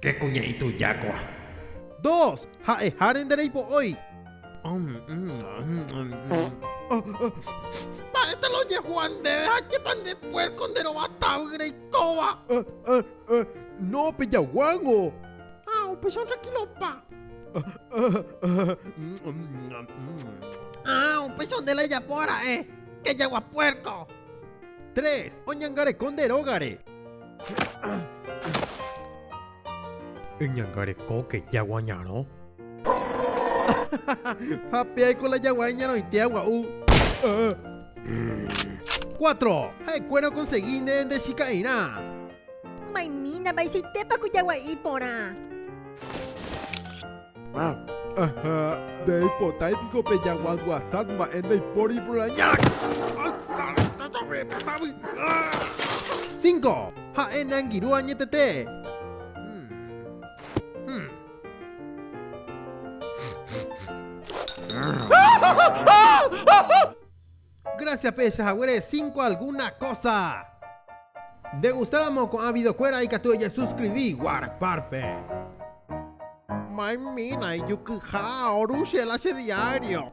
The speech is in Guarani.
Che kuña ituja kóa. Dos, Ha'eháre nde reipo'ói. Mba'épa la ojehua ndéve ha chépa nde puérko nde rova tavy reikóva. No, pejaguángo. Ha upéicharõ trankílopa. Ha upéicharõ nde la ejapo ara'e. Kejagua puérko. Tres, Oñangareko nde rógare. Eñangarekóke jagua ñarõ. Ha péaiko la jagua iñarõitéva gua'u. Cuatro. Ha'ekuéra okonsegi ne nde chika'irã. Maymína, vaicháitépa ku jagua'i iporã. Aha, ndeipotái piko pe jaguanguasat mba'e ndaipóri proraña. Cinco, ha'e neangirũ añetete. Gracias pehecha haguére cinco alguna cosa. Nde gustáramo ko'ã videokuéra ikatu ejesuscribi guard párpe. Maymina ijukyha oru che la che diario.